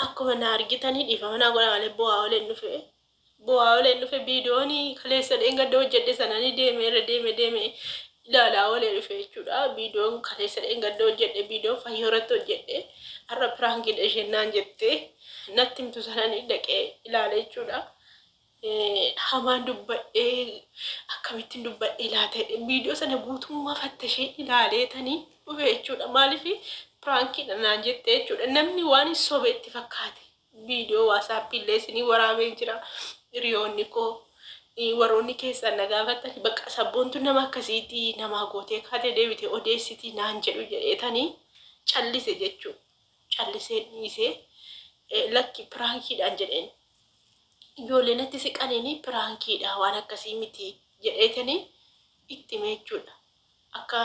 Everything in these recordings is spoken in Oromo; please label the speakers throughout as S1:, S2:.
S1: akkuma na argitanii dhiifama naa godha malee bu'aa oleen dhufe bu'aa oleen dhufe viidiyoonii kaleessan dheengadda hojjedhe sananii deeme irra deeme deeme ilaalaa olee dhufe jechuudha viidiyoon kaleessa dheengadda hojjedhe viidiyoon fayyoo irratti hojjedhe har'a piraankiidha isheen naan jette natti himtu sananii dhaqee ilaale jechuudha. hamaan dubbadhee akkamittiin dubbadhee laata jedhee viidiyoo sana guutummaa fattashee ilaaleetanii dhufe jechuudha. Maaliif piraankiidha naan jette jechuudha. Namni waan hin sobe itti fakkaate viidiyoo waasaappii illee isinii waraabee jira. Hiriyoonni koo eh, warroonni keessan na gaafattan bakka sabboontu nama akkasiitii namaa gootee kaatee deebitee odeessitii naan jedhu jedheetanii callise jechuudha. Callisee dhiisee eh, lakki piraankiidhaan jedheen ijoollee natti siqaniini piraankiidha waan akkasii miti jedheetanii itti himee jechuudha. Akka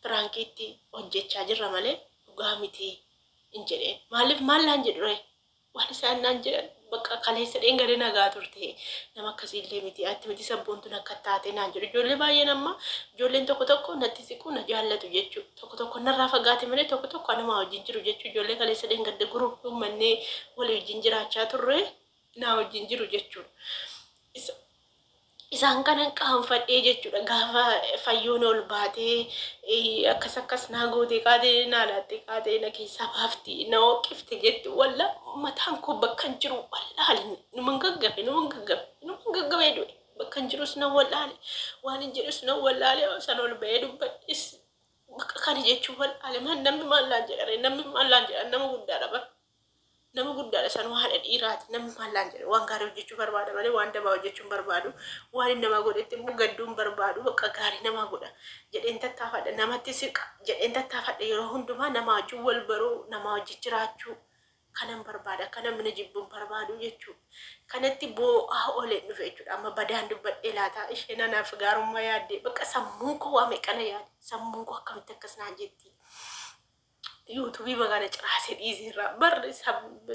S1: piraankiitti hojjechaa jirra malee dhugaa miti hin jedheen. Maaliif maal naan jedhure waan isaan naan jedhan bakka kaleessa dheengadee nagaa turte nama akkasii illee miti atti miti sabboontuun akka taate naan jedhu ijoollee baay'een amma ijoolleen tokko tokko natti siquu na jaallatu jechuu. Tokko tokko narraa fagaate malee tokko tokko anumaa wajjin jiru jechuu ijoollee kaleessa dheengadda group uummannee walii wajjin jiraachaa turre naa wajjin jiru jechuudha. Isa- Isaan kanan qaanfadhee jechuudha gaafa fayyoon ol baatee eh, akkas akkas naa gootee kaatee naa laattee kaatee na keessaa baafti na hooqifte jettu walla mataan koo bakka hin jiru wallaahi numan gaggabe numan gaggabe numan gaggabee du'e. Bakkan jirus nan wallaale. Waanin jedhus nan wallaale. San ol ba'ee dubbadhes bakka kana jechuu wallaale. Maal namni maal naan jedhare namni maal naan jedhan nama guddaadha bara. Nama guddaadha san haadha dhiiraati namni maal naan jedhan waan gaarii hojjechuu barbaada malee waan dabaa hojjechuu hin barbaadu. Waan inni namaa godhetti immoo gadduu hin barbaadu bakka gaarii namaa godha jedheen tattaafadha namatti siqa jedheen tattaafadha yeroo hundumaa namaa wajjin wal baruu namaa wajjin jiraachuu kanan barbaada akka namni na jibbu hin barbaadu jechuudha. Kanatti boo'aa ooleen dhufe jechuudha. Amma badaan dubbadhee laata isheen anaaf gaarummaa yaaddee bakka sammuun koo waa meeqana yaade sammuun koo akkamitti akkas naan jetti. Yuutuubii magana ciraasee dhiiseerra barri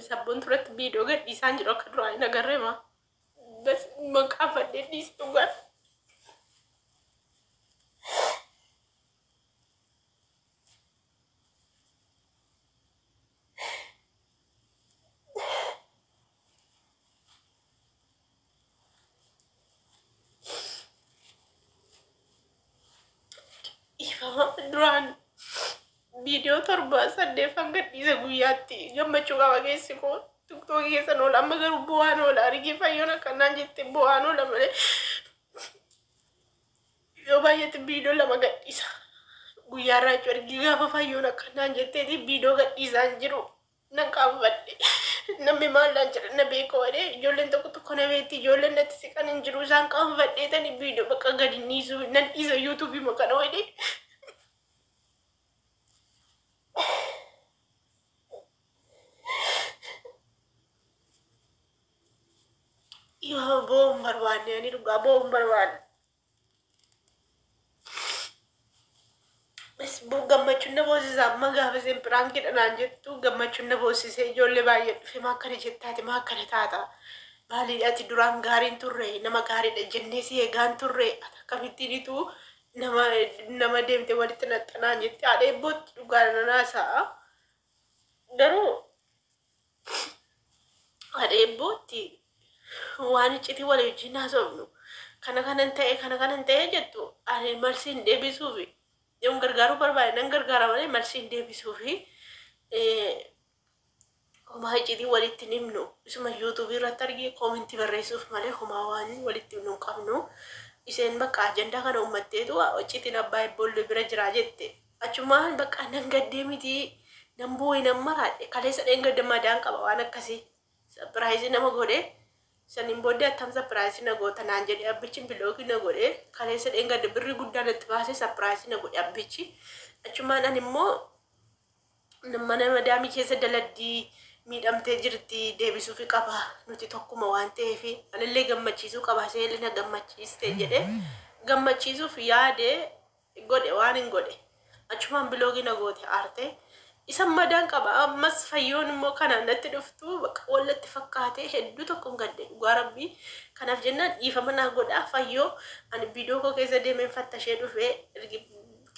S1: sabboon turatti viidiyoo gadhiisaan jiru akka duraa hin agarreema. Bas maqaa fadhee dhiise dhugaan. Ifama duraan viidiyoo torba saddeet hanga dhiise guyyaatti gammachuu qaba keessi koo tiktookii keessa noola amma garuu bu'aan oola argii fayyoon akkanaan jette bu'aan oola malee Yoo baay'ate viidoo lama gadhiisa. Guyyaa raachuu ergii gaafa fayyoon akka naan jetteeti viidoo gadhiisaan jiru nan qaanfadhe. Namni maal naan jedha na beeka waree ijoolleen tokko tokko na beekti ijoolleen natti siqan hin jiru isaan qaanfadhee tani viidoo bakka gadi hin dhiisu nan dhiisa yuutuubii makana waree. Yoo bo'oon barbaanne ani dhugaa bo'oon barbaanne. Isbuu gammachuun na boosisa amma gaafa isin piraankiidha naan jettu gammachuun na boosisee ijoollee baay'ee dhufe maa akkana jettaati maa akkana taata maalii ati duraan gaariin turre nama gaariidha jennee si eegaan turre ati akkamittiin ituu nama nama deemte walitti naxxanaan jette haadha eebbootti dhugaa nanaasa'a garuu Adheen bootti waan iccitii walii wajjin haasofnu kana kanan ta'e kana kanan ta'e jettu ani marsiin deebisuufi yoon gargaaruu barbaade nan gargaara malee marsiin deebisuufi homaa iccitii walitti hin himnu isuma yuutuubii irratti argee koomintii barreessuuf malee homaa waan walitti himnu hin qabnu isheen bakka ajandaa kana uummatteetu iccitiin abbaa ibboolloo bira jira jette Achumaan bakka nan gaddee miti nan boo'e nan maraadhe kaleessa dheengadda madaan qaba waan akkasii sapiraayizii nama godhe saniin booddee attam sapiraayizii na goota naan jedhe abbichi bilookii na godhe kaleessa dheengadda birrii guddaa natti baasee sapiraayizii na godhe abbichi achumaan ani immoo mana madaamii keessa daladdii miidhamtee jirti deebisuufi qaba nuti tokkuma waan ta'eef anillee gammachiisuu qaba seelli na gammachiiste jedhe gammachiisuuf yaade godhe waanin godhe achumaan biloogii na goote aarte isan madaan qaba ammas fayyoon immoo kanaan natti dhuftu baqa wal natti fakkaate hedduu tokkon gadde dhugaa rabbii kanaaf jennaan dhiifama naa godhaa fayyoo ani biidoo koo keessa deemeen fattashee dhufe ergi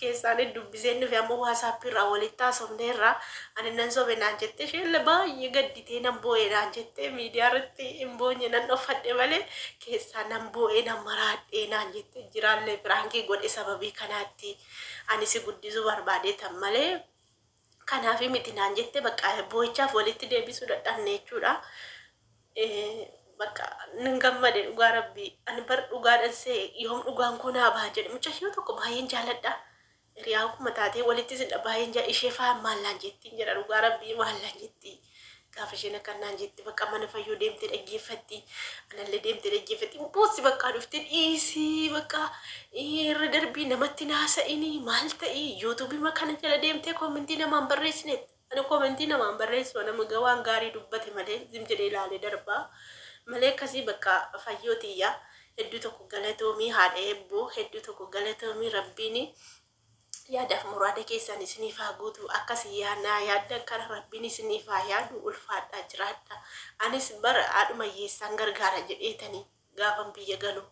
S1: keessaan dubbiseen dhufe amma waasaappii irraa walitti haasofne irraa ani nan sobe naan jette isheen baay'ee gadditee nan boo'e naan jette miidiyaa irratti hin boonye nan dhoffadhe malee keessaa nan boo'ee nan maraadhee naan jette jiraallee piraankii godhe sababii kanaatti ani si guddisuu barbaadeetan malee kanaafi miti naan jette bakka boo'ichaaf walitti deebisuu dadhabne jechuudha. Eh, Bakka nan gammade dhugaa rabbii ani bar dhugaadhan see yoom dhugaan koo naa baha jedhe mucayyoo tokko baay'een jaaladha Hiriyaan kuma taatee walitti isin dha baayeen jaa ishee faa maal naan jettiin jedha dhugaa rabbii maal naan jettii gaafa isheen akkan naan jette bakka mana fayyoo deemtee dhaggeeffatti anallee deemtee dhaggeeffatti hin boossi bakkaa dhufte dhiisii bakka irra darbii namatti naasa'inii maal ta'ii yuutuubii makana jala deemtee koomentii namaan barreessinetti Ani komentii namaan barreessu ana maga waan gaarii dubbate malee zim jedhee ilaalee darbaa malee akkasii bakka fayyoo tiyya hedduu tokko galatoomii haadha eebboo hedduu tokko galatoomii rabbiini yaadaaf muraada keessan isiniif haa guutu akkasi yaa naa yaaddan kana rabbiin isiniif haa yaadu ulfaadhaa jiraadha anis bara haadhuma hiyyeessaan gargaara jedheetanii Gaafan biyya galu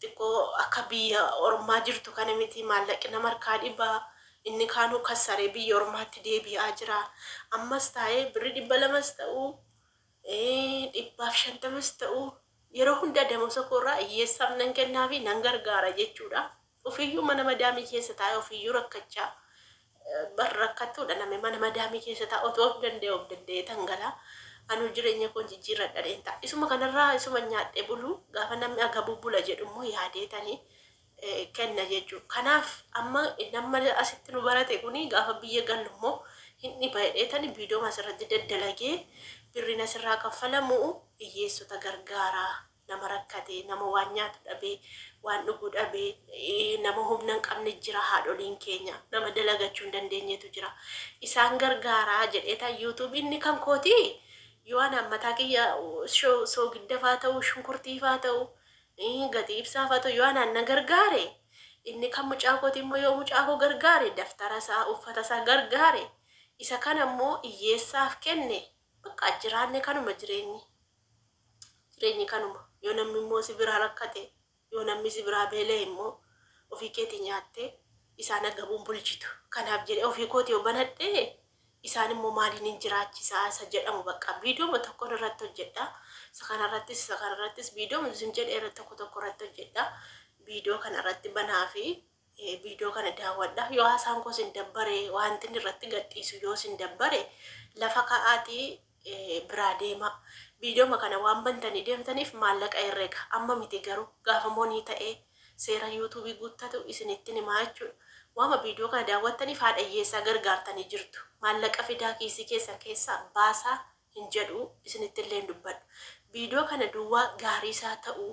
S1: xiqqoo akka biyya ormaa jirtu kana miti. Maallaqi nama harkaa dhiba. Inni kaanuu kassaree biyya ormaatti deebi'aa jira. Ammas taa'ee birri dhibba lamas ta'u, dhibbaaf shantamas ta'u yeroo hunda damosa koorraa hiyyeessaaf nan kennaafi nan gargaara jechuudha. Ofiyyuu mana madaamii keessa taa'ee ofiyyuu rakkachaa bar rakkattuudha nami mana madaamii keessa taa'u otoo of danda'e of danda'ee tan galaa anuu jireenya koon jijjiirradhadheen ta'a isuma kanarraa isuma nyaadhee buluu gaafa namni agabuu bula jedhu immoo yaadee tanii kenna jechuu kanaaf amma namma asitti nu barate kuni gaafa biyya gallu immoo hin dhiba jedhee tani biidooma asirratti daddalagee birriin asirraa kaffalamu hiyyeessota gargaaraa. nama rakkate, nama waan nyaatu dhabe, waan dhugu dhabe, nama humna hin qabne jira haadholiin keenya, nama dalagachuu hin dandeenyetu jira. Isaan gargaaraa jedheeta YouTube inni kan kooti yoo anaan mataa kiyya sho- soogiddafaa ta'u, shunkurtiifaa ta'u, ii, gatii ibsaafaa ta'u yoo anaan na gargaare inni kan mucaa kooti immoo yoo mucaa koo gargaare daftara isaa, uffata isaa gargaare isa kana immoo hiyyeessaaf kenne bakka jiraanne kanuma jireenyi. Jireenyi kanuma. Yoo namni immoo si biraa rakkate, yoo namni si biraa beela'e immoo ofii keetii nyaattee isaan agabuun bulchitu. Kanaaf jedhee ofii kooti yoo banadhee isaan immoo maaliin hin jiraachisaa isa jedhamu bakka viidiyooma tokkoon irratti hojjedha. Isa kanarrattis isa kanarrattis viidiyooma isin jedhe irratti tokko tokko irratti hojjedha. Viidiyoo kanarratti banaa fi Viidiyoo kana daawwadhaa. Yoo haasaan koo isin dabbare, wantin irratti gadhiisu yoo isin dabbare, lafa ka'aatii biraa deemaa. Viidiyooma kana waan bantanii deemtaniif maallaqa herrega. Amma miti garuu gaafa monii ta'e seera yuutuubii guuttatu isinittin himaa jechuudha. Waama viidiyoo kana daawwattaniif haadha hiyyeessaa gargaartanii jirtu. Maallaqa fidaa kiisii keessan keessaa baasaa hin jedhu isinittillee hin dubbadhu. Viidiyoo kana duwwaa gaariis haa ta'u,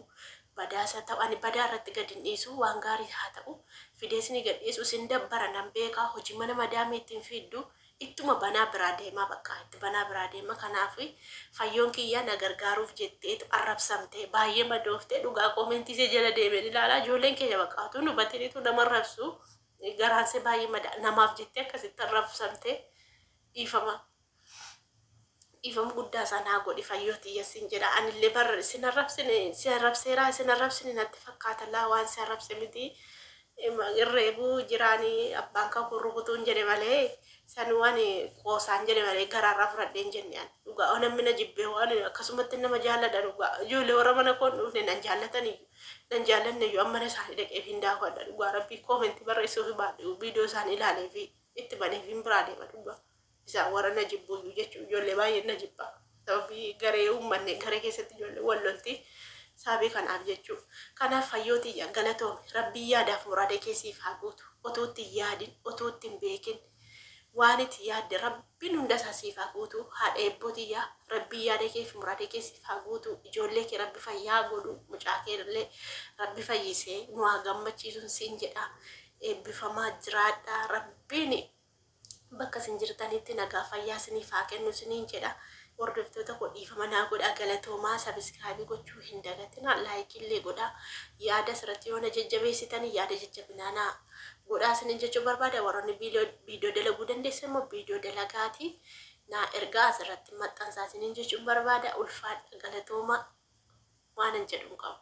S1: badaas haa ta'u, ani badaa irratti gad hin dhiisu, waan gaariis haa ta'u fidee isinii gad dhiisu isin dabbara nan beeka, hojii mana madaamii itti hin fiiddu, ittuma banaa biraa deemaa baqqa, itti banaa biraa deema, kanaaf Fayyoon kiyya na gargaaruuf jetteetu arrabsamte, baay'ee madoofte, dhugaa koomentii ishee jala deemeen ilaala, ijoolleen keenya baqqa utuu hin hubatiin utuu nama arrabsu garaan ishee baay'ee madaa, namaaf jettee akkasitti arrabsamte dhiifama dhiifama guddaa isaa naa godhi fayyoo tiyya sin jedha anillee bar sin arrabsine si arrabseeraa sin arrabsine natti fakkaata laa waan si arrabse miti irreebu jiraani abbaan kan kun rukutuun jedhe malee san waan qoosaan jedhe malee garaarraa fudhadheen jenne an dhugaa waan hammina jibbee waan akkasumatti nama jaalladha dhugaa ijoollee warra mana koon dhufne nan jaallataniyyuu nan jaallanneyyuu ammana isaanii dhaqeef hin daawwadha dhugaa rabbii koomentii barreessuuf baadhu viidiyoo isaanii ilaalee fi itti banee fi hin biraa deema dhugaa. isaa warra na jibbuyyuu jechuun ijoollee baay'een na jibba sababii garee uummanne garee keessatti ijoollee wal lolti saabii kanaaf jechuu kanaaf fayyooti yaa galatoomi rabbii yaadaaf muraada kee siif haa guutu otuutti hin yaadin otuutti hin beekin waan itti yaadde rabbiin hunda isaa siif haa guutu haadha eebbooti yaa rabbii yaada kee fi muraada kee siif haa guutu ijoollee kee rabbi fayyaa godhu mucaa kee illee rabbi fayyisee nu haa gammachiisuun siin jedha eebbifamaa jiraadha rabbiin Bakka isin jirtanitti nagaaf fayyaa isiniif haa kennu isiniin jedha. Hordoftoota koo dhiifama naa godhaa galatoomaa sabiskiraabii gochuu hin dagatinaa laayikii illee godhaa yaada asirratti yoo na jajjabeessitanii yaada jajjabinaa naa godhaa isiniin jechuu barbaada warroonni viidiyoo dalaguu dandeessan immoo viidiyoo dalagaatii naa ergaa asirratti maxxansaa isiniin jechuun barbaada ulfaadha galatoomaa waanan jedhu hin qabu.